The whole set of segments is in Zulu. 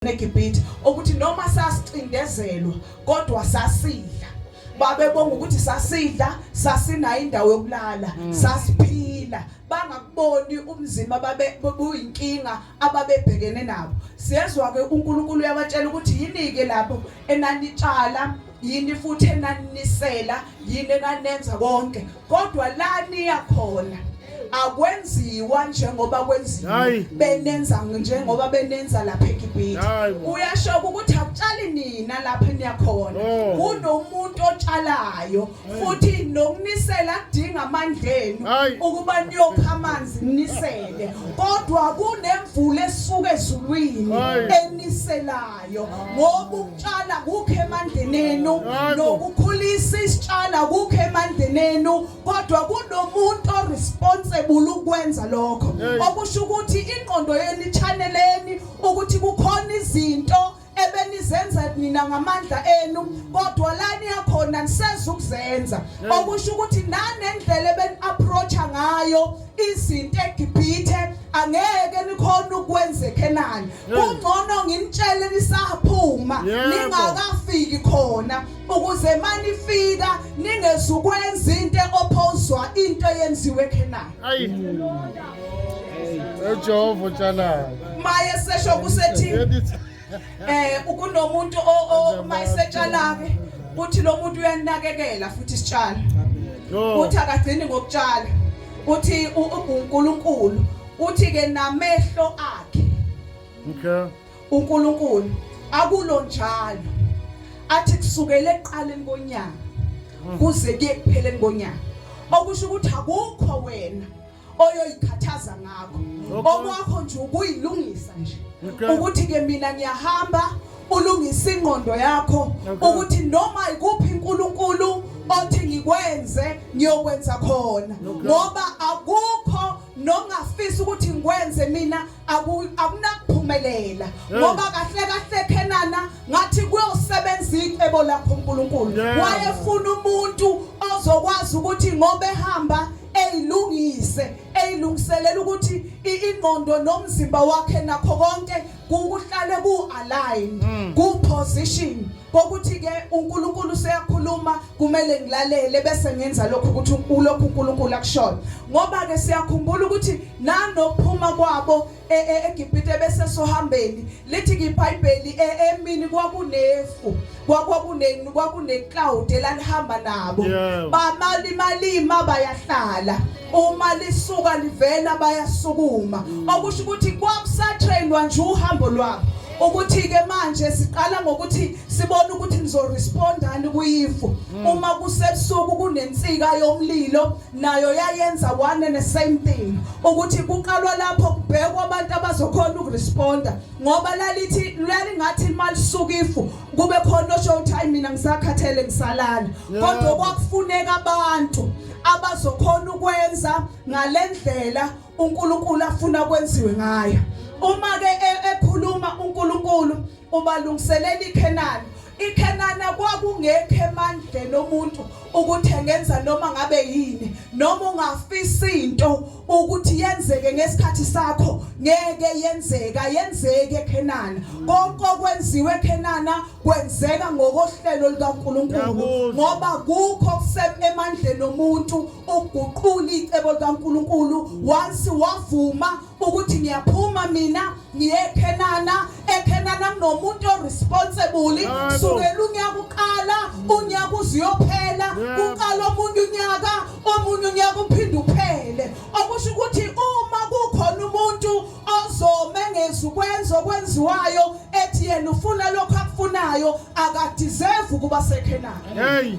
eGibhithe ukuthi noma sasicindezelwa kodwa sasidla babebonga ukuthi sasidla sasinayo indawo yokulala mm. sasiphila bangakuboni umzima babe kuyinkinga ababebhekene nabo siyezwa ke uNkulunkulu uyabatshela ukuthi yini ke lapho enanitshala yini futhi enaninisela yini enanenza konke kodwa la niya khona akwenziwa njengoba kwenziwa benenza njengoba benenza lapha eGibhithe uyasho ukuthi akutshali nina lapha niyakhona oh. kunomuntu otshalayo futhi nokunisela adinga amandlenu ukuba niyokha amanzi nisele kodwa kunemvula esuka ezulwini eniselayo ngoba ukutshala kukho emandleni enu nokukhulisa isitshala kukho emandleni enu kodwa kunomuntu oresponsible ukwenza lokho okusho ukuthi ingqondo yenu ichaneleni ukuthi kukhona izinto ebenizenza nina ngamandla enu kodwa lani yakhona niseza ukuzenza okusho ukuthi nanendlela ebeni approacha ngayo izinto eGibhithe angeke nikhona ukwenza eKhenani kungcono nginitshele nisaphuma ningakafiki khona ukuze manifika ningezukwenza into eophozwa into eyenziwe eKhenani ayi eJehova utshalayo maye sesho kusethi eh kunomuntu uma isetshala ke kuthi lo muntu uyanakekela futhi isitshalo kuthi akagcini ngokutshala kuthi uNkulunkulu uthi ke namehlo akhe okay uNkulunkulu akulo njalo athi kusukela eqaleni konyaka kuze kuyekupheleni konyaka okusho ukuthi akukho wena oyoyikhathaza ngakho okwakho nje ukuyilungisa nje ukuthi ke mina ngiyahamba ulungise ingqondo yakho ukuthi noma ikuphi uNkulunkulu othi ngikwenze ngiyokwenza khona ngoba akukho nongafisa ukuthi ngikwenze mina akunakuphumelela ngoba kahle kahle khenana ngathi kuyosebenza icebo lakho uNkulunkulu wayefuna umuntu ozokwazi ukuthi ngoba ehamba eyilungise eyilungiselela ukuthi ingqondo nomzimba wakhe nakho konke kukuhlale ku align mm. ku position kokuthi ke uNkulunkulu seyakhuluma kumele ngilalele bese ngenza lokho ukuthi ulokhu uNkulunkulu akushoyo ngoba ke siyakhumbula ukuthi nanokuphuma kwabo e, e, eGibhite bese sohambeni lithi iBhayibheli e, emini kwakunefu kwakuneni kwakunecloud elalihamba nabo bamali malima bayahlala uma lisuka livela bayasukuma mm. okusho ukuthi kwakusatrainwa nje uhambo lwabo ukuthi ke manje siqala ngokuthi sibone ukuthi nizorespondani kuyifu mm. uma kusebusuku kunensika yomlilo nayo yayenza one and the same thing ukuthi kuqalwa lapho kubhekwa abantu abazokhona ukuresponda ngoba lalithi lalingathi imali suka ifu kube khona osho ukuthi hayi mina ngisakhathele ngisalala kodwa kwakufuneka abantu abazokhona ukwenza ngalendlela uNkulunkulu afuna kwenziwe ngayo uma ke e, ekhuluma uNkulunkulu Ubalungiselela iKhenani. IKhenana kwakungekho emandleni omuntu ukuthi engenza noma ngabe yini noma ungafisa into ukuthi yenzeke ngesikhathi sakho ngeke yenzeka yenzeke eKhenana konke okwenziwe eKhenana kwenzeka ngokohlelo likaNkuluNkulu ngoba kukho kusemandleni omuntu ukuguqula icebo likaNkuluNkulu once wavuma ukuthi ngiyaphuma mina ngiye eKhenana eKhenana kunomuntu oresponsible sukela unyaka uqala unyaka uziyophela uqala omunye unyaka omunye unyaka uphinde uphele okusho ukuthi uma kukhona umuntu ozomengeza ukwenza okwenziwayo ethi yena ufuna lokho akufunayo akadeserve ukuba seKhenana hey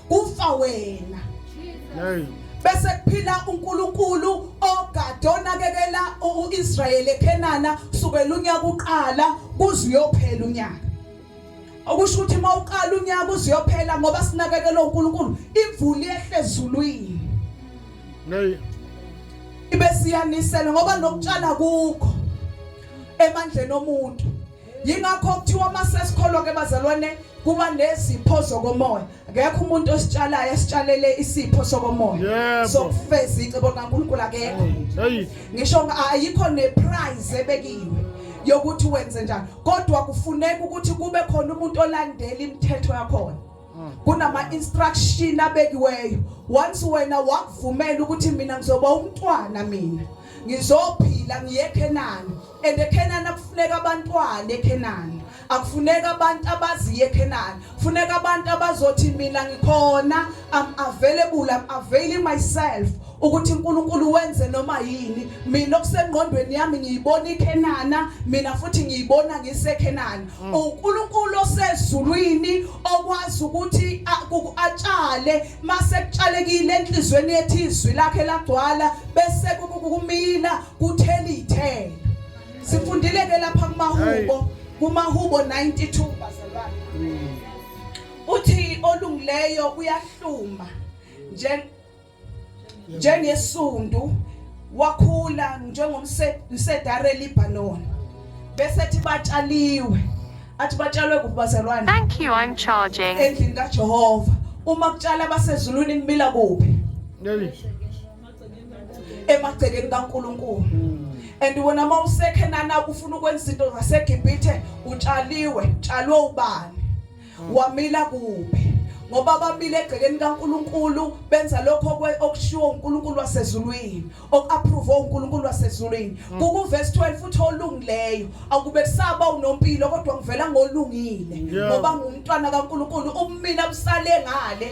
kufa wena hey bese kuphila uNkulunkulu ogade onakekela uIsrael eKhenana kusukela unyaka uqala kuze uyophela unyaka okusho ukuthi uma uqala unyaka uze uyophela ngoba sinakekela uNkulunkulu imvula yehle ezulwini hey ibe siyanisela ngoba nokutshala kukho emandleni omuntu yingakho kuthiwa uma sesikholwa ke bazalwane kuba nezipho zokomoya akekho umuntu ositshalayo esitshalele isipho sokomoya sokufeza icebo likaNkulunkulu akekho ngisho ayikho neprize ebekiwe yokuthi wenze njani kodwa kufuneka ukuthi kube khona umuntu olandela imithetho yakhona hmm. kunama instruction abekiweyo once wena wakuvumela ukuthi mina ngizoba umntwana mina ngizophila ngiye eKhenani and eKhenani akufuneka abantwana eKhenani akufuneka abantu abaziye eKhenani funeka abantu abazothi mina ngikhona am available am availing myself ukuthi uNkulunkulu wenze noma yini mina okusengqondweni yami ngiyibona iKhenana mina futhi ngiyibona ngiseKhenana mm. uNkulunkulu osezulwini okwazi ukuthi atshale mase kutshalekile enhlizweni yethu izwi lakhe lagcwala bese kumila kuthela ithelo sifundile ke lapha kumahubo kumahubo 92 bazalwane mm. uthi olungileyo uyahluma nje njengesundu wakhula njengomsedare Lebanon bese thi batshaliwe athi batshalwe kubazalwane Thank you I'm charging endlini kaJehova uma kutshala basezulwini kumila kuphi emagcekeni kaNkuluNkulu and wena mawusekhenana ufuna ukwenza izinto zaseGibhithe utshaliwe tshalwe ubani wamila kuphi ngoba bamile egcekeni kaNkuluNkulu benza lokho okushiwo uNkuluNkulu wasezulwini okuapprove uNkuluNkulu wasezulwini mm. kuku verse 12 uthi olungileyo akube kusaba unompilo kodwa ngivela ngolungile ngoba ngumntwana kaNkuluNkulu umina busale ngale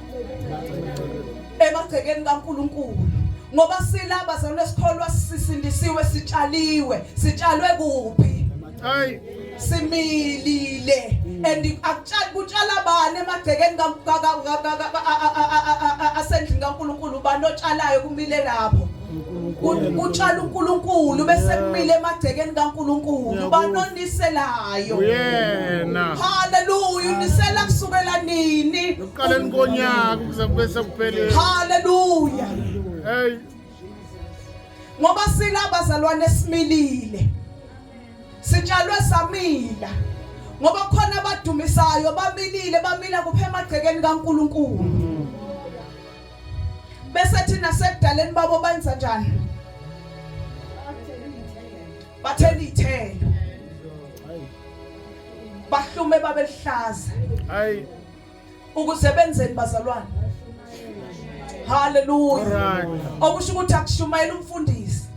emagcekeni kaNkuluNkulu ngoba silaba zalona sikholwa sisindisiwe sitshaliwe sitshalwe kuphi hayi similile and akutshali kutshala bani emagcekeni asendlini kaNkuluNkulu bani otshalayo kumile lapho kutshala uNkulunkulu bese kumile emagcekeni kaNkulunkulu banoniselayo uyena haleluya unisela kusukela nini ekuqaleni konyaka ukuze kube sekupheleni haleluya hey ngoba silabazalwane similile sitshalwe samila ngoba khona abadumisayo bamilile bamila kuphe emagcekeni kaNkulunkulu bese thina sekudaleni babo benza njani bathela ithelo bahlume babelihlaza hayi ukuze benzeni bazalwane haleluya okusho ukuthi akushumayela umfundisi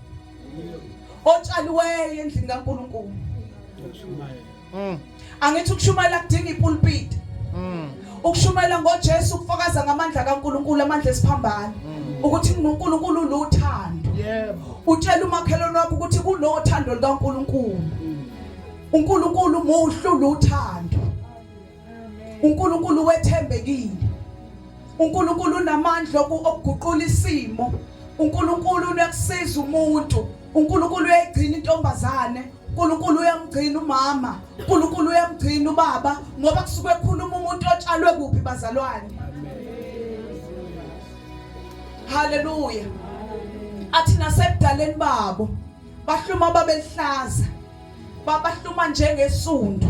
otshaliweyo endlini kaNkuluNkulu Mm. Angithi ukushumayela kudinga ipulpiti. Mm. Ukushumayela ngoJesu ukufakaza ngamandla kaNkuluNkulu amandla esiphambano. Mm. Ukuthi uNkulunkulu unothando. Yebo. Utshela umakhelwane wakho ukuthi kunothando likaNkuluNkulu. Mm. uNkulunkulu muhle uluthando uNkulunkulu wethembekile uNkulunkulu unamandla okuguqula isimo uNkulunkulu uyakusiza umuntu uNkulunkulu uyayigcina intombazane uNkulunkulu uyamgcina umama uNkulunkulu uyamgcina ubaba ngoba kusuke ekhuluma umuntu otshalwe kuphi bazalwane haleluya athi nasekudaleni babo bahluma babehlaza babahluma njengesundu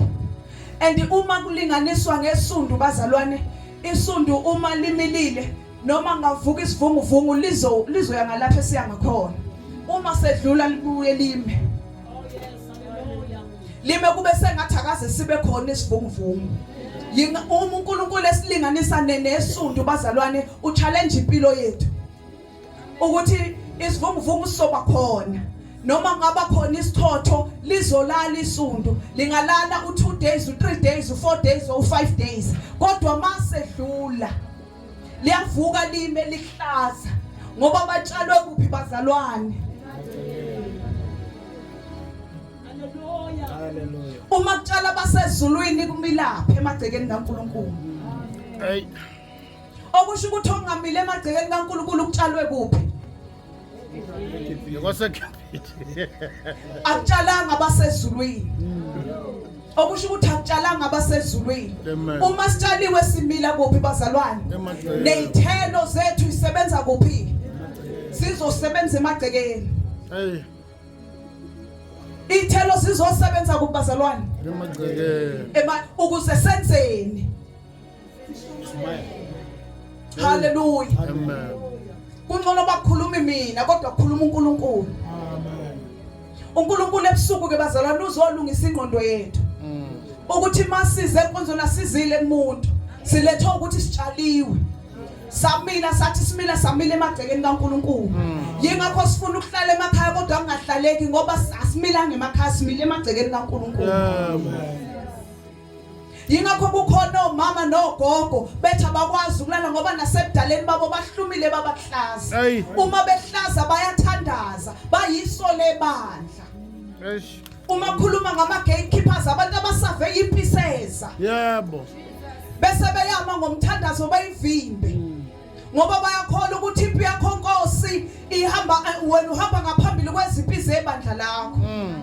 and uma kulinganiswa ngesundu bazalwane isundu uma limilile noma ngavuka isivunguvungu lizo lizoya ngalapha esiya ngakhona uma sedlula libuye lime lime kube sengathi akaze sibe khona isivunguvungu yinga uma uNkulunkulu esilinganisa nesundu bazalwane uchallenge impilo yethu ukuthi isivunguvungu soba khona noma ngaba khona isithotho lizolala isundu lingalala u2 days u3 days u4 days or u5 days kodwa mase dlula liyavuka lime lihlaza ngoba batshalwe kuphi bazalwane uma kutshala basezulwini kumilapha emagcekeni kaNkuluNkulu hey okusho ukuthi ongamile emagcekeni kaNkulunkulu ukutshalwe kuphi akutshalanga abasezulwini okusho ukuthi akutshalanga abasezulwini uma sitshaliwe simila kuphi bazalwane nezithelo zethu isebenza kuphi sizosebenza emagcekeni ithelo sizosebenza kubazalwane emagcekeni ukuze senzeni Hallelujah. Amen. Kungcono bakhulumi mina kodwa kukhuluma uNkulunkulu. Amen. uNkulunkulu ebusuku ke bazalwane uzolungisa ingqondo yethu mm. ukuthi masize enkonzweni asizile kumuntu silethe ukuthi sitshaliwe samila sathi simila samila emagcekeni kaNkuluNkulu mm. yingakho sifuna ukuhlala emakhaya kodwa kungahlaleki ngoba asimilanga emakhaya simile emagcekeni kaNkuluNkulu yingakho kukhona omama nogogo bethi abakwazi ukulala ngoba nasebudaleni babo bahlumile babahlaza uma behlaza bayathandaza bayiso lebandla uma khuluma ngama gatekeepers abantu abasave impiseza yebo bese beyama ngomthandazo bayivimbe ngoba bayakholwa ukuthi impi yakho nkosi ihamba eh, wena uhamba ngaphambili kwezimpi zebandla lakho mm.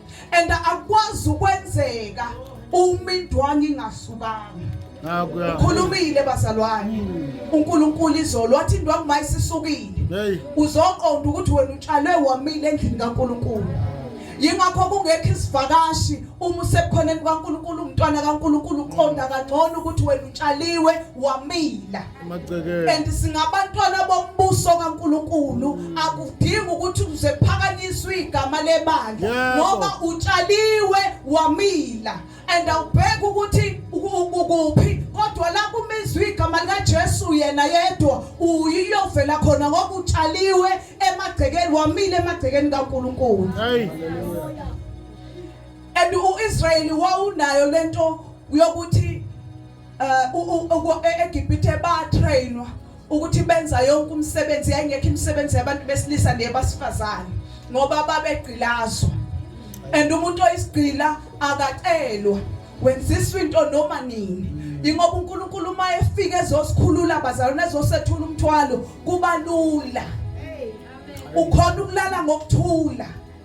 and akwazi ukwenzeka uma indwangu ingasukanga ukhulumile bazalwane hmm. uNkulunkulu izolo wathi indwangu mayisisukile uzoqonda ukuthi wena utshalwe wamile endlini kaNkulunkulu yingakho kungekho isivakashi uma usebukhoneni kwaNkulunkulu umntwana kaNkulunkulu uqonda kangcono ukuthi wena utshaliwe wamila Amagcekeni. And singabantwana bombuso kaNkuluNkulu akudingi ukuthi uze phakanyiswe igama lebandla Yebo. ngoba utshaliwe wamila and awubheki ukuthi uku- ukuphi kodwa la kumizwe igama likaJesu yena yedwa uyiyovela khona ngoba utshaliwe emagcekeni wamile emagcekeni kaNkuluNkulu Hey. and uIsrayeli wawunayo lento yokuthi uh, eGibhithe batrainwa ukuthi benza yonke umsebenzi yayingekho imisebenzi yabantu besilisa nebasifazane ngoba babegqilazwa and umuntu oyisigqila akacelwa wenziswa into noma nini ingoba uNkulunkulu uma efika ezosikhulula abazalwane ezosethula umthwalo kuba lula ukhona ukulala ngokuthula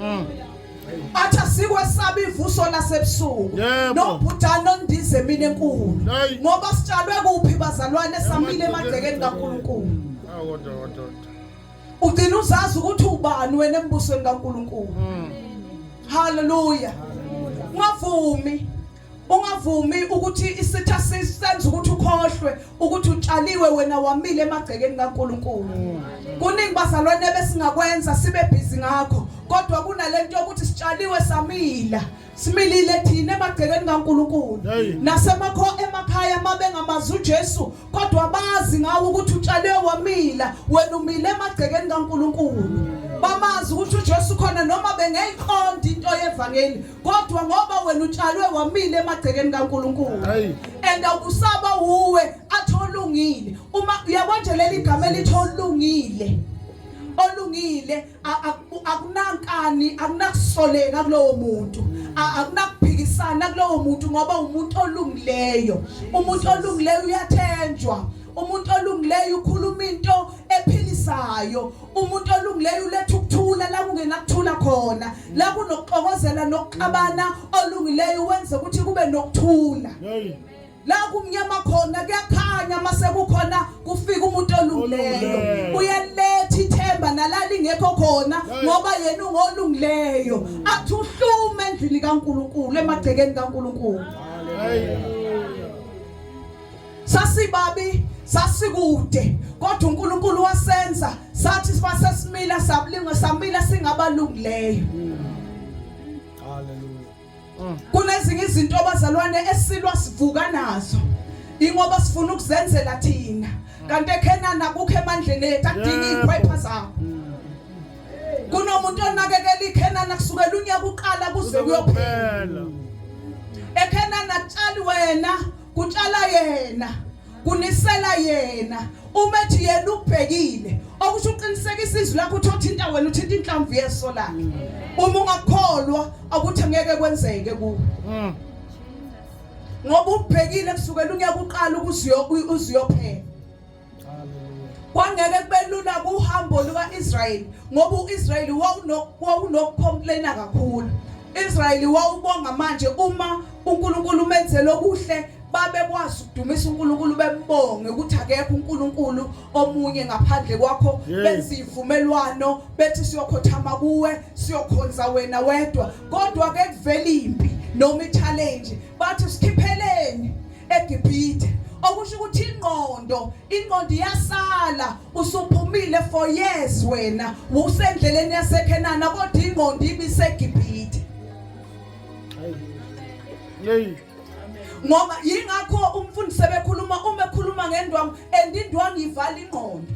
Mm. athi asikwesabi ivuso lasebusuku Yebo. nobhutana nondize emini enkulu Hey. ngoba sitshalwe kuphi bazalwane samile emagcekeni kankulunkulu Ah, kodwa, kodwa, kodwa. ugcina uzazi ukuthi ubani wena embusweni kankulunkulu Mm. haleluya ungavumi ungavumi ukuthi isitha sisenza ukuthi ukhohlwe ukuthi utshaliwe wena wamile emagcekeni kaNkuluNkulu kuningi bazalwane besingakwenza sibe busy ngakho kodwa kunalento yokuthi sitshaliwe samila similile thina emagcekeni kaNkuluNkulu nasemakho emakhaya mabengamazi uJesu kodwa bazi ngawo ukuthi utshaliwe wamila wena umile emagcekeni kaNkuluNkulu bamazi ukuthi uJesu khona noma bengayiqondi into yevangeli kodwa ngoba wena utshalwe wamile emagcekeni kaNkuluNkulu and awukusaba uwe atholungile uma uyabona nje leli gama elitholungile olungile akunankani akunakusoleka kulowo muntu akunakuphikisana kulowo muntu ngoba umuntu olungileyo umuntu olungileyo uyathenjwa umuntu olungileyo ukhuluma into ephilisayo umuntu olungileyo uletha ukuthula la kungenakuthula khona la kunokuxokozela nokuxabana olungileyo wenze ukuthi kube nokuthula la kumnyama khona kuyakhanya mase kukhona kufika umuntu olungileyo uyaletha ithemba nalala ingekho khona ngoba yena ungolungileyo athi uhlume endlini kaNkuluNkulu emagcekeni kaNkuluNkulu sasibabi sasikude kodwa uNkulunkulu wasenza sathi sibasesimila sabulingwa samila singabalungileyo haleluya kunezinye izinto abazalwane esilwa sivuka nazo ingoba sifuna ukuzenzela thina kanti ekhenana kukho emandleni ethu akudinga iziphepha zakho kunomuntu onakekela ikhenana kusukela unyaka uqala kuze kuyophela ekhenana tshali wena kutshala yena kunisela yena uma ethi yena ubhekile okusho uqinisekisa izwi lakho uthi othinta wena uthinta inhlamvu yeso lakhe uma ungakholwa akuthi ngeke kwenzeke kuwe mm. ngoba ubhekile kusukela unyaka uqala ukuze uziyophela kwangeke kube lula kuhambo luka-israyeli ngoba u-israyeli wawunokukhomplena kakhulu israyeli wawubonga manje uma unkulunkulu umenzele okuhle babekwazi ukudumisa uNkulunkulu bembonge ukuthi akekho uNkulunkulu omunye ngaphandle kwakho benza ivumelwano bethi siyokhothama kuwe siyokhonza wena wedwa kodwa ke kuvela impi noma i-challenge bathi sikhipheleni eGibhithe okusho ukuthi ingqondo ingqondo iyasala usuphumile for years wena usendleleni yaseKhenana kodwa ingqondo ibiseGibhithe Yey ngoba yingakho umfundisi bekhuluma uma ekhuluma ngendwangu and indwangu ivala ingqondo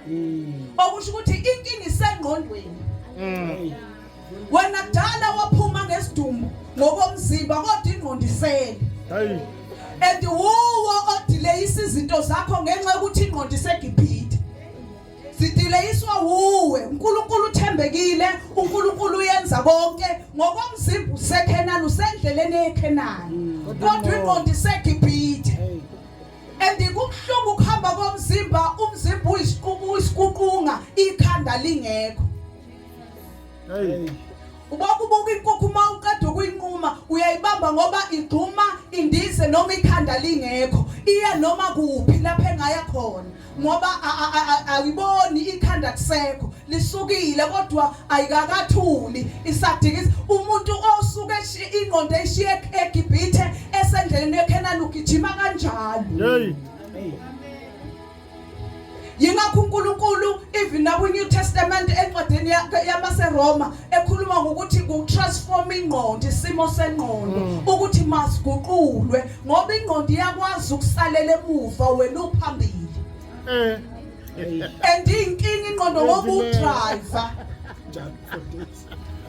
mm. okusho ukuthi inkinga isengqondweni mm. wena kudala waphuma ngesidumbu ngokomzimba kodwa ingqondo isele hayi and wuwo odileyisa izinto zakho ngenxa yokuthi ingqondo isegibhide sidileyiswa wuwe uNkulunkulu uthembekile uNkulunkulu uyenza konke ngokomzimba usekhenani usendleleni yekhenani mm. kodwa ingqondo isegibhide and kubuhlungu ukuhamba komzimba umzimba uyisiququnga ikhanda lingekho hey ubokubuka inkukhu uma uqeda ukuyinquma uyayibamba ngoba igxuma indize noma ikhanda lingekho iya noma kuphi lapha engaya khona ngoba ayiboni ikhanda kusekho lisukile kodwa ayikakathuli isadikisa umuntu osuke ingqondo eshiye eGibhithe esendleleni yeKhenani ugijima kanjalo hey yingakho uNkulunkulu even naku New Testament encwadini yamaseRoma ekhuluma ngokuthi ku-transform ingqondo isimo sengqondo mm. ukuthi masiguqulwe ngoba ingqondo iyakwazi ukusalela emuva wena uphambili eh. and inkinga ingqondo ngokudrayiva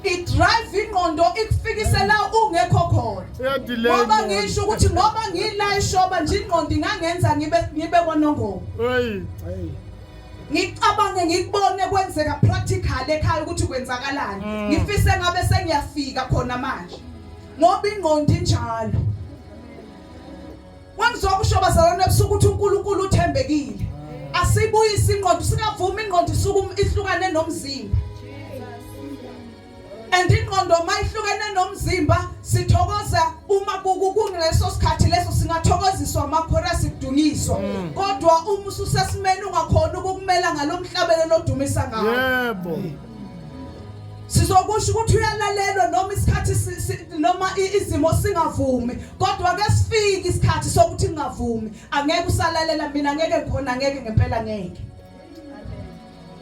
idrive ingqondo ikufikise la ungekho khona ngoba ngisho ukuthi ngoba ngila ishoba nje ingqondo ingangenza ngibe ngibe kwanongoma ngicabange ngikubone kwenzeka practical ekhaya ukuthi kwenzakalani mm. ngifise ngabe sengiyafika khona manje ngoba ingqondo injalo wangizwa kusho bazalwane ebusuku ukuthi uNkulunkulu uthembekile asibuyise ingqondo singavumi ingqondo isuku ihlukane nomzimba and ingqondo uma ihlukene nomzimba sithokoza uma kukuleso sikhathi leso singathokoziswa amakhora sikudunyiswa mm. kodwa uma ususesimeni ungakhona ukukumela ngalomhlabelo lodumisa ngawo yebo sizokusho ukuthi uyalalelwa noma isikhathi noma izimo singavumi kodwa ke sifike isikhathi sokuthi ngingavumi angeke usalalela mina ngeke khona ngeke ngempela ngeke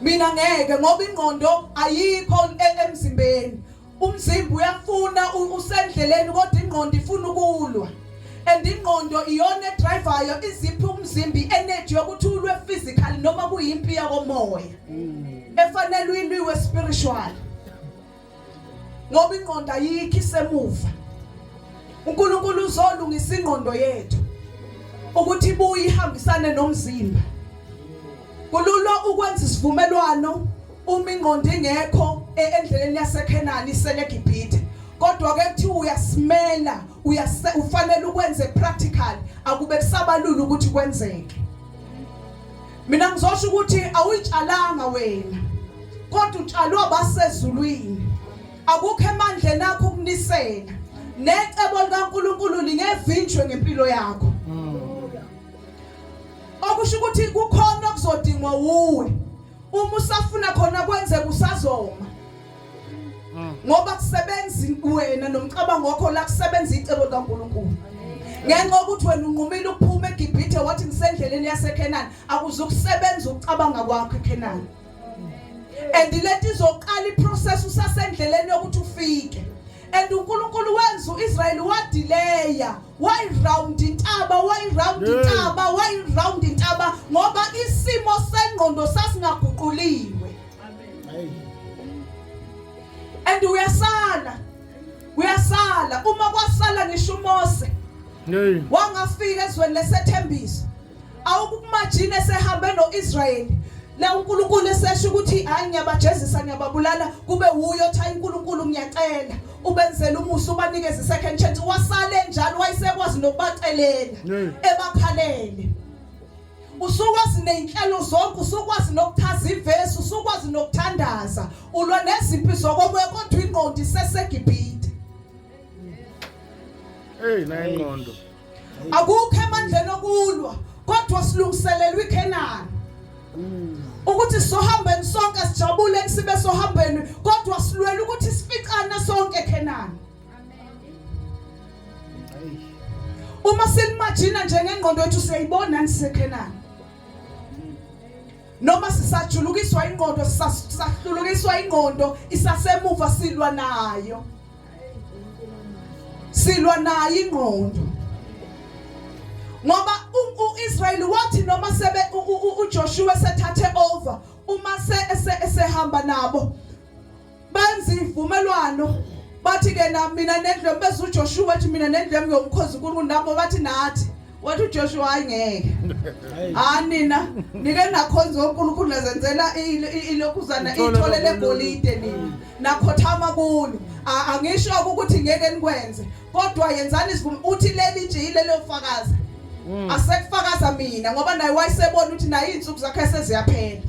mina ngeke ngoba ingqondo ayikho e-, emzimbeni umzimba uyafuna usendleleni kodwa ingqondo ifuna ukulwa and ingqondo iyona edrivayo iziphi umzimba i-energy yokuthi ulwe physically noma kuyimpi yakomoya mm. efanele uyilwiwe spiritual ngoba ingqondo ayikho isemuva uNkulunkulu uzolungisa ingqondo yethu ukuthi ibuye ihambisane nomzimba kulula ukwenza isivumelwano uma ingqondo ingekho e-, endleleni yaseKhenani iselegibhithe kodwa ke kuthi uyasimela ufanele ukwenze practical akube kusabalula ukuthi kwenzeke mina ngizosho ukuthi awuyitshalanga wena kodwa utshalwe abasezulwini akukho emandleni akho ukunisela necebo likaNkuluNkulu lingevinjwe ngempilo yakho okusho ukuthi kukhona okuzodingwa wuwe uma usafuna khona kwenzeka usazoma ngoba kusebenza wena nomcabango wakho la kusebenza icebo likaNkulunkulu ngenxa ukuthi wena unqumile ukuphuma eGibhithe wathi ngisendleleni yaseKenani akuzukusebenza ukucabanga kwakho eKenani and lento izoqala iprocess usasendleleni yokuthi ufike and uNkulunkulu wenza uIsrael wadileya why round intaba why round intaba why round intaba ngoba isimo sengqondo sasingaguquliwe and uyasala uyasala uma kwasala ngisho uMose wangafika ezweni lesethembiso awukumajini esehambe noIsrayeli la uNkulunkulu esesho ukuthi hayi ngiyabajezisa ngiyababulala kube wuyo tha uNkulunkulu ngiyacela ubenzela umusa ubanikeze isecond chance wasale njalo wayesekwazi nokubacelela ebakhalele usukwazi ney'nhlelo zonke usukwazi nokuchaza ivesi usukwazi nokuthandaza ulwa nezimpi zokomoya kodwa ingqondo isesegibhide eyi naye ingqondo akukho emandleni okulwa kodwa silungiselelwa ikhenani ukuthi sohambeni sonke sijabule kusibe sohambeni kodwa silwela ukuthi sificane sonke ekhenani uma silimajina njengengqondo yethu siyayibona nisekhenani noma sisajulukiswa ingqondo sisahlulukiswa ingqondo isasemuva silwa nayo silwa nayo ingqondo ngoba uIsrael wathi noma sebe uJoshua sethathe over uma se esehamba nabo benza ivumelwano bathi ke na mina nendlu yami bese uJoshua wathi mina nendlu yami ngiyomkhoza uNkulunkulu nabo bathi nathi wathi uJoshua hayi ngeke ha nina nike nakhonza uNkulunkulu nazenzela ilokhuzana ithole legolide nina nakhothama kulo angisho ukuthi ngeke nikwenze kodwa yenzani isivumo uthi leli nje ilelo fakaza mm. asekufakaza mina ngoba naye wayesebona ukuthi naye izinsuku zakhe seziyaphela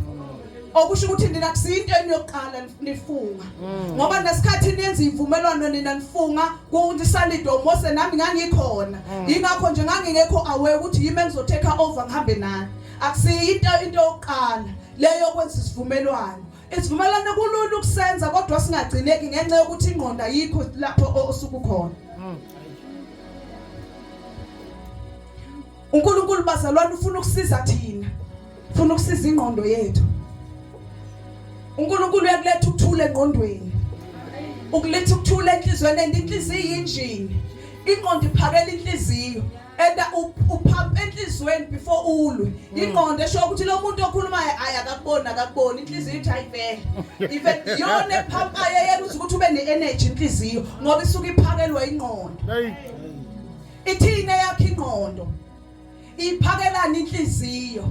okusho ukuthi nina kusiyinto eniyoqala nifunga mm. ngoba nesikhathi nenza imvumelwano nina nifunga kunisalido Mose nami ngangikhona mm. ingakho nje ngangingekho aware ukuthi yimi engizoteka over ngihambe nani akusiyinto into yokuqala leyo kwenza isivumelwano isivumelwano kulula ukusenza kodwa singagcineki ngenxa yokuthi ingqondo ayikho lapho osukukhona mm. uNkulunkulu bazalwane ufuna ukusiza thina ufuna ukusiza ingqondo yethu uNkulunkulu uyakuletha ukuthula engqondweni ukuletha ukuthula enhlizweni and inhliziyo yinjini ingqondo iphakela inhliziyo and uphapha enhlizweni before ulwe hmm. ingqondo esho ukuthi lo muntu okhulumayo ayi akakuboni akakuboni inhliziyo ithi ayivele even yona ephapayo yena ukuthi ube ne-energy inhliziyo ngoba isuke iphakelwa ingqondo Ithini eyakhe ingqondo? Iphakelani inhliziyo?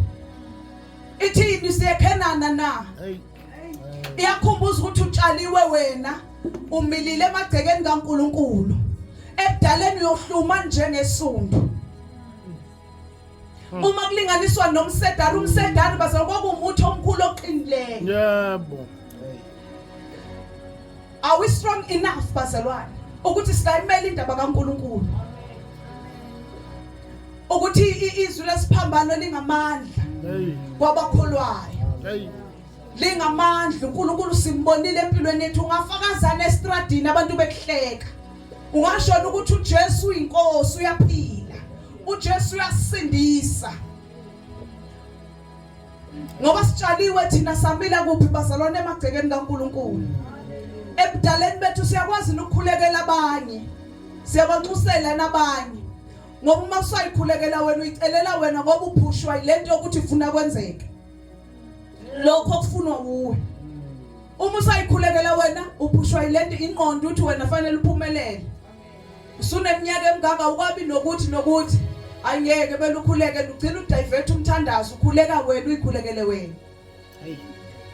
Ithini siyekhenana na? Iyakhumbuza ukuthi utshaliwe wena umilile emagcekeni kaNkuluNkulu. Ebudaleni uyohluma njengesundu. Hmm. Uma kulinganiswa nomsedari umsedari bazokuba umuthi omkhulu oqinileyo. Yebo. Are we strong enough bazalwane ukuthi singayimela indaba kaNkuluNkulu? Ukuthi izwi lesiphambano lingamandla kwabakholwayo. Lingamandla uNkulunkulu simbonile empilweni yethu ungafakazana estradini abantu bekuhleka. Ungashona ukuthi uJesu uyinkosi uyaphila. uJesu uyasindisa ngoba sitshaliwe thina samila kuphi bazalwane emagcekeni kaNkuluNkulu ebudaleni bethu siyakwazi ukukhulekela abanye siyabanxusela nabanye ngoba uma usayikhulekela wena uyicelela wena ngoba uphushwa ilento yokuthi ufuna kwenzeke lokho kufunwa wuwe uma usayikhulekela wena uphushwa ilento inqondo uthi wena fanele uphumelele usuneminyaka emngaka ukwabi nokuthi nokuthi angeke belukhuleke lugcina udivethe umthandazo ukhuleka wena uyikhulekele wena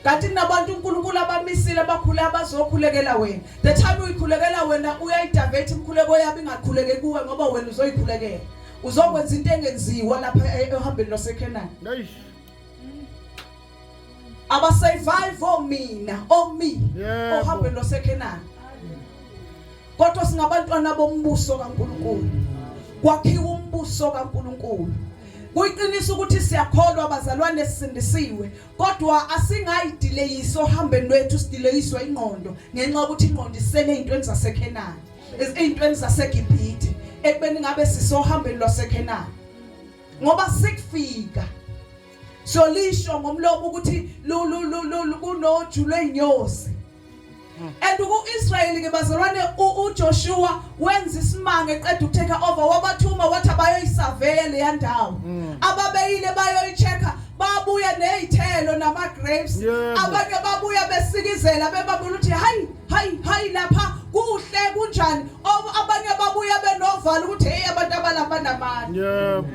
kanti kunabantu uNkulunkulu abamisile abakhule abazokhulekela wena the time uyikhulekela wena uyayidivethe imkhuleko yabo ingakhuleke kuwe ngoba wena uzoyikhulekela uzokwenza into engenziwa lapha e-, ehambeni lwaseKhenani abasurvive omina omi ohambeni lwasekhenani kodwa singabantwana bombuso kaNkuluNkulu kwakhiwa umbuso kaNkuluNkulu kuyiqiniso ukuthi siyakholwa abazalwane sisindisiwe kodwa asingayidileyisi ohambeni lwethu sidileyiswa ingqondo ngenxa yokuthi ingqondo isele ezintweni zasekhenani ezintweni zasegibhithe ekubeni ngabe sisohambeni lwasekhenani ngoba sikufika so lisho ngomlomo ukuthi kunoju lweyinyosi hmm. and ku-israyeli ke bazalwane ujoshua wenza isimanga eqeda ukuteka over wabathuma wathi abayoyisaveya leya ndawo hmm. ababeyile bayoyi-check-a babuya nezithelo nama grapes abanye babuya besikizela bebabona ukuthi hayi hayi hayi lapha kuhle kunjani abanye babuya benovalo ukuthi hey abantu abalapha namandla yebo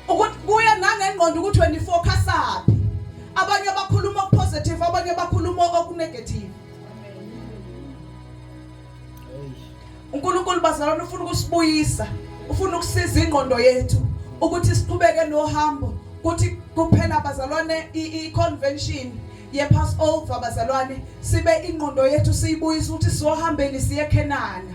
ukuthi kuya nangengqondo ukuthi wena ifocusaphi abanye abakhuluma okupositive abanye abakhuluma okunegative uNkulunkulu bazalwane ufuna ukusibuyisa ufuna ukusiza ingqondo yethu ukuthi siqhubeke nohambo kuthi kuphela bazalwane i-convention ye-passover bazalwane sibe ingqondo yethu siyibuyisa ukuthi siyohambeni siye eKhenana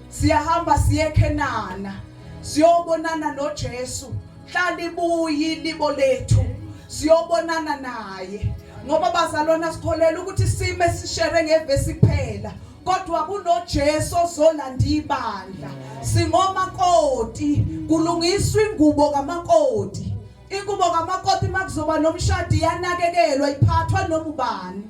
siyahamba siye eKhenana siyobonana noJesu mhla libuyi libo lethu siyobonana naye ngoba bazalwana sikholela ukuthi sime sishere ngevesi kuphela kodwa kunoJesu ozolanda ibandla singomakoti kulungiswa ingubo kamakoti ingubo kamakoti makuzoba nomshadi yanakekelwa iphathwa noma ubani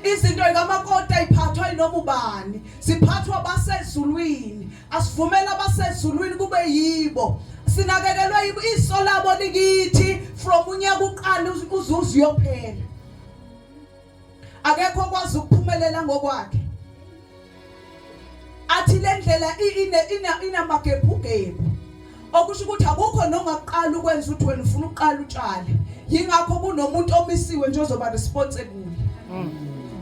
izinto zikamakoti ayiphathwa yinoma ubani siphathwa basezulwini asivumela abasezulwini kube yibo sinakekelwe yibo iso labo likithi from unyaka uqala uze uyophela akekho okwazi ukuphumelela ngokwakhe athi le ndlela inamagebhugebhu okusho ukuthi akukho noma kuqala ukwenza ukuthi wena ufuna ukuqala utshale yingakho kunomuntu omisiwe nje ozoba response kuye mm.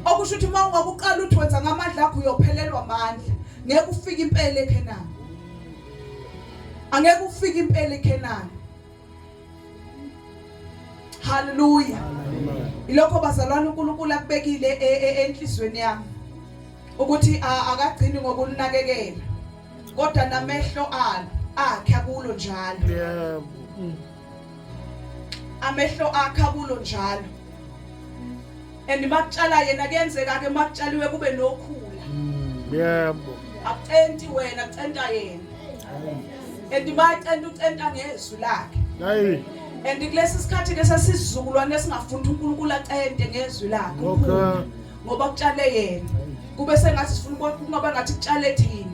okusho ukuthi uma ungakuqala uthi wenza ngamandla akho uyophelelwa amandla ngeke ufike impela ekhenani angeke ufike impela ekhenani Hallelujah. Ilokho bazalwane uNkulunkulu akubekile e, e, e, enhlizweni yami ukuthi akagcini ngokulinakekela kodwa namehlo alo akhe akulo njalo. Yebo. Amehlo akhe akulo njalo. and makutshala yena kuyenzeka ke makutshaliwe kube nokhula yebo akucenti wena kucenta yena and macenta ucenta ngezwi lakhe hayi and kulesi sikhathi ke sesizukulwane esingafunda uNkulunkulu acente ngezwi lakhe okay ngoba kutshale yena kube sengathi sifuna ukungaba ngathi kutshale thina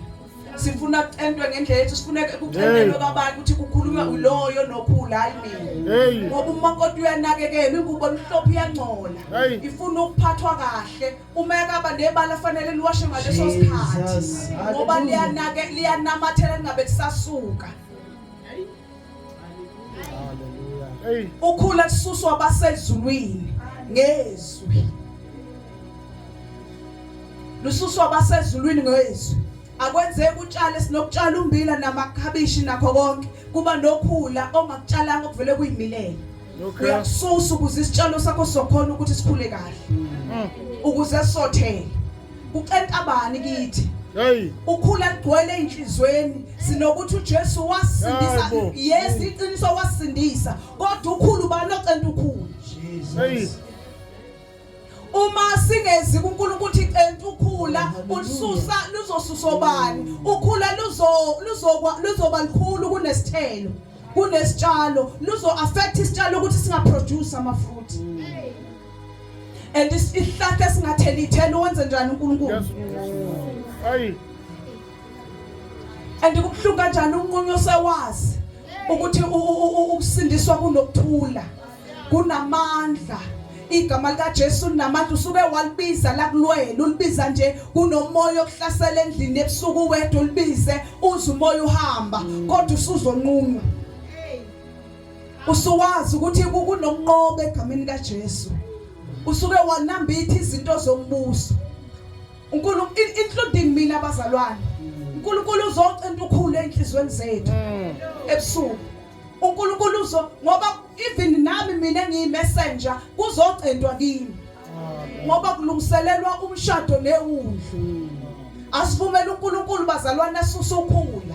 sifuna kucentwe ngendlela yethu sifuna kucentelwe kwabantu ukuthi kukhulunywa uloyo nokhula hayi mina ngoba umakoti uyanakekela ingubo emhlophe iyangcola ifuna ukuphathwa kahle uma ekaba nebala fanele liwashe ngaleso sikhathi ngoba liyanake liyanamathela lingabe lisasuka ukhula kususwa abasezulwini ngezwi lususwa abasezulwini ngezwi akwenzeki utshale sinokutshala umbila namakhabishi nakho konke kuba nokhula ongakutshalanga okuvele kuyimilela uyakususa ukuze isitshalo sakho sokhona ukuthi sikhule kahle mm. ukuze sothele Ucenta bani kithi? Hey. Ukhula ligcwele enhlizweni sinokuthi uJesu wasindisa. Yes, iqiniso wasindisa. Kodwa ukhulu bani ocenta ukhulu? Jesus. Hey. uma singezi kuNkulunkulu ukuthi centa ukhula ulisusa luzosusa obani ukhula luzo luzokwa luzoba likhulu kunesithelo kunesitshalo luzo affect isitshalo ukuthi singa produce ama fruit and isihlahla esingathela ithelo wenze njani uNkulunkulu ayi and kubuhlungu kanjani unqunye osewazi ukuthi ukusindiswa kunokuthula kunamandla igama likaJesu linamandla usuke walibiza la kulwele ulibiza nje kunomoya okuhlasela endlini ebusuku wedwa ulibize uze umoya uhamba kodwa usuzonqunywa usuwazi ukuthi kunokunqoba egameni kaJesu usuke wanambitha izinto zombuso uNkulunkulu including mina bazalwane uNkulunkulu uzocinta ukhulu enhlizweni zethu mm. ebusuku uNkulunkulu uzo ngoba even nami mina ngiyimessenger kuzocintwa kimi ngoba kulungiselelwa umshado newundlu mm. asivumela uNkulunkulu bazalwane asuse ukhulu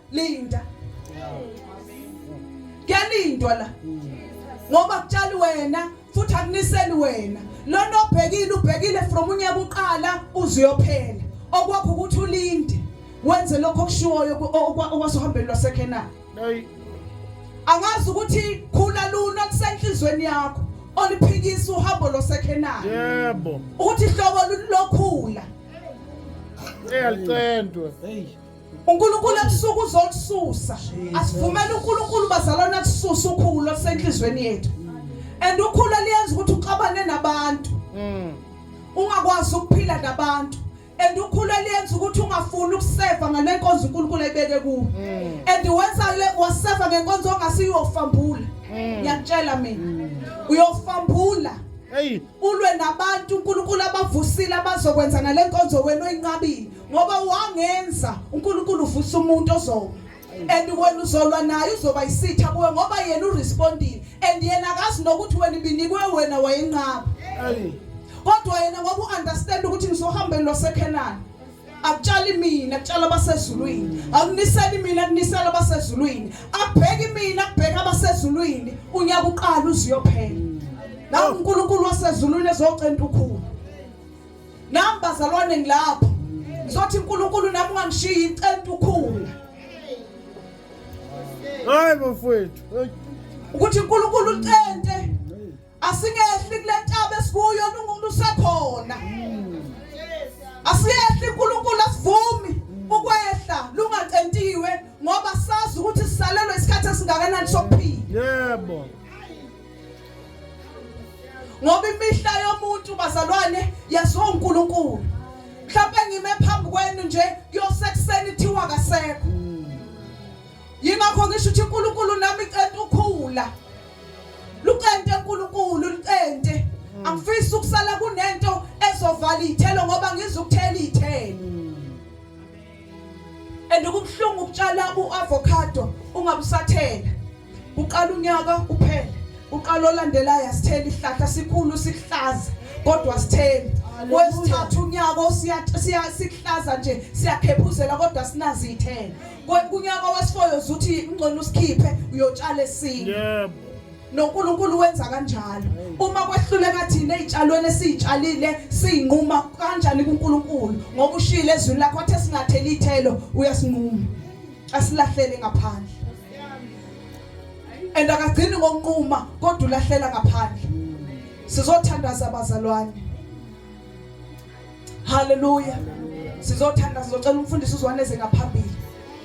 linda kuyalindwa la ngoba kutshali wena futhi akuniseli wena lona obhekile ubhekile from unyaka uqala uziyophela okwakho ukuthi ulinde wenze lokho okushiwoyo okwasihambeni lwasekhenani angazi ukuthi khula luna lisenhlizweni yakho oliphikisa uhambo losekhenani yebo ukuthi hlobo lokhula eyalicentwe hey uNkulunkulu ebusuku uzokususa asivumele uNkulunkulu bazalwane akususa ukhulu olusenhlizweni yethu and ukhulu eliyenza ukuthi uxabane nabantu mm. ungakwazi ukuphila nabantu and ukhulu eliyenza ukuthi ungafuni ukuseva ngale nkonzo uNkulunkulu ayibeke kuwe mm. and wenza le waseva ngenkonzo ongasiyofambula mm. ngiyakutshela mina uyofambula ulwe nabantu uNkulunkulu abavusile abazokwenza ngale nkonzo wena oyinqabile ngoba wangenza uNkulunkulu uvusa umuntu ozoma and wena uzolwa naye uzoba isitha kuwe ngoba yena urespondile and yena akazi nokuthi wena ibinikwe wena wayenqaba kodwa yena ngoba uunderstand ukuthi ngizohambeni lwasekhenani akutshali mina kutshala abasezulwini akuniseli mina kunisela abasezulwini abheki mina kubheka abasezulwini unyaka uqala uziyophela nawu uNkulunkulu wasezulwini ezocenta ukhulu nami bazalwane ngilapha ngizothi uNkulunkulu nami ungangishiyi icenta ukhula hayi bafowethu ukuthi uNkulunkulu ucente asingehli kule ntaba esikuyo uNkulunkulu usekhona asiyehli uNkulunkulu asivumi ukwehla lungacentiwe ngoba sazi ukuthi sisalelwe isikhathi esingakanani sokuphila yebo yeah, ngoba imihla yomuntu bazalwane yaziwa uNkulunkulu mhlawumbe ngime phambi kwenu nje kuyosekuseni thiwa kasekho yingakho ngisho ukuthi uNkulunkulu nami cente ukhula lucente uNkulunkulu lucente hmm. angifisi ukusala kunento ezovala ithelo ngoba ngizukuthela ithelo hmm. and kubuhlungu ukutshala uavocado ungabusathela uqala unyaka uphele uqala olandelayo asitheli ihlahla sikhulu sihlaza kodwa sitheli kwesithathu unyaka siya sihlaza nje siyakhephuzela kodwa sinazithela kunyaka wesifoyo uzuthi ingcono usikhiphe uyotshala esinye yebo noNkulunkulu wenza kanjalo uma kwehluleka thina ezitshalweni esizitshalile sinquma kanjani kuNkulunkulu ngoba ushilo ezwini lakho athe singatheli ithelo uyasinquma asilahlele ngaphandle and akagcini ngokunquma kodwa ulahlela ngaphandle sizothandaza abazalwane haleluya sizothandaza sizocela umfundisi uzwaneze ngaphambili